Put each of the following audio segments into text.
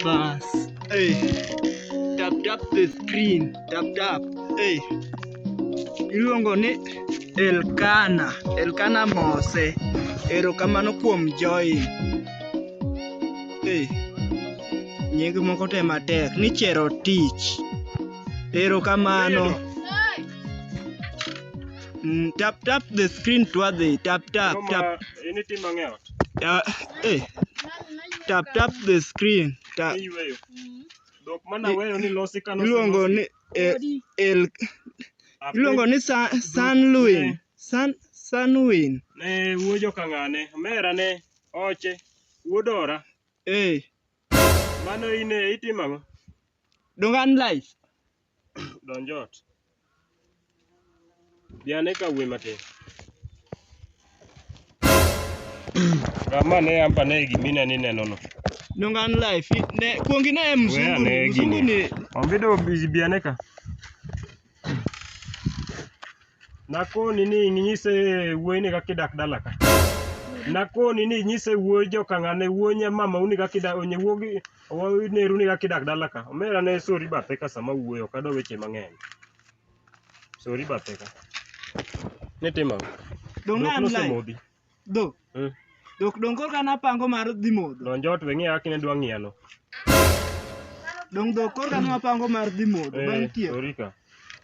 Bas. Hey. Tap tap the screen. Tap tap. Hey. Iluongo ni Elkana. Elkana Mose. Erokamano kuom join. Hey. Nying moko te matek ni chero tich. Erokamano. Mm, tap tap the screen twadhi. Tap tap tap. Ini tim mang'ewa. Ta, eh, tap tap the screen. Ta, Iyweyo. Dhok mana weyo ni losi kano. iluongo ni eh, el, iluongo ni Sa- Sanwin. San, Sanwin. Ne wuo jokang'ane, mera ne oche, wuodora. Eh, Mano ine itimo ang'o? dongan life. Donj ot. Bi ane ka wuoyi matin. Gama ne ampa ne gimina ni neno no. Nongan life. Ne kuongi na em mzungu. ne ni. Mzungu ni. Ombido bi ane ka. Nakoni ni inyise wuoyi ni kaka idak dala ka. Nakoni ni inyise wuoyi jokang'ane wuoyi nya mama uni kaka idak onye wuogi Waneru ni kaka idak dala ka. Omera ne sori bathe ka sama wuoyo ok adwa weche mang'eny. Sori bathe ka. Ne timo. Dong' Dhok I'm live. nosemodhi. Dhok. Mm. Dhok dong' korka napango mar dhi modho. Donj ot we ng'iya kaka ne dwa ng'iyano. Dong' dhok korka napango mar dhi modho. Bang' Eh, tiek. sori ka.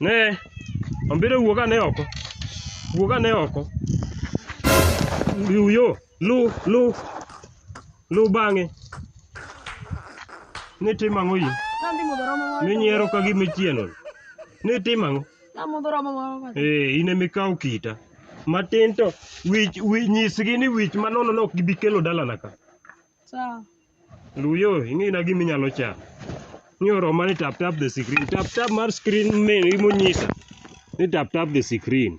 Ne, ambire wuog ane oko. Wuog ane oko. Luw yo, luw, luw. Luw bang'e. Ni timo ang'o in? Nadhi modho romo moro. Minyiero ka gima ichieno. Ni timo ang'o? Namodho romo moro. bas. Eh, in ema ikaw kita. Matin to wich, wich nyisgi ni wich manono no ok gibi kelo dalana ka. Sawa. Luyo, ing'ina gima inyalo cha. Ni oroma ni tap tap the screen. Tap tap mar screen mail imonyisa. Ni tap tap the screen.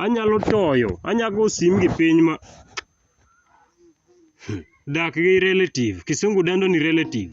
Anyalo toyo, anyago sim gi piny ma dak gi relative. Kisungu dendo ni relative.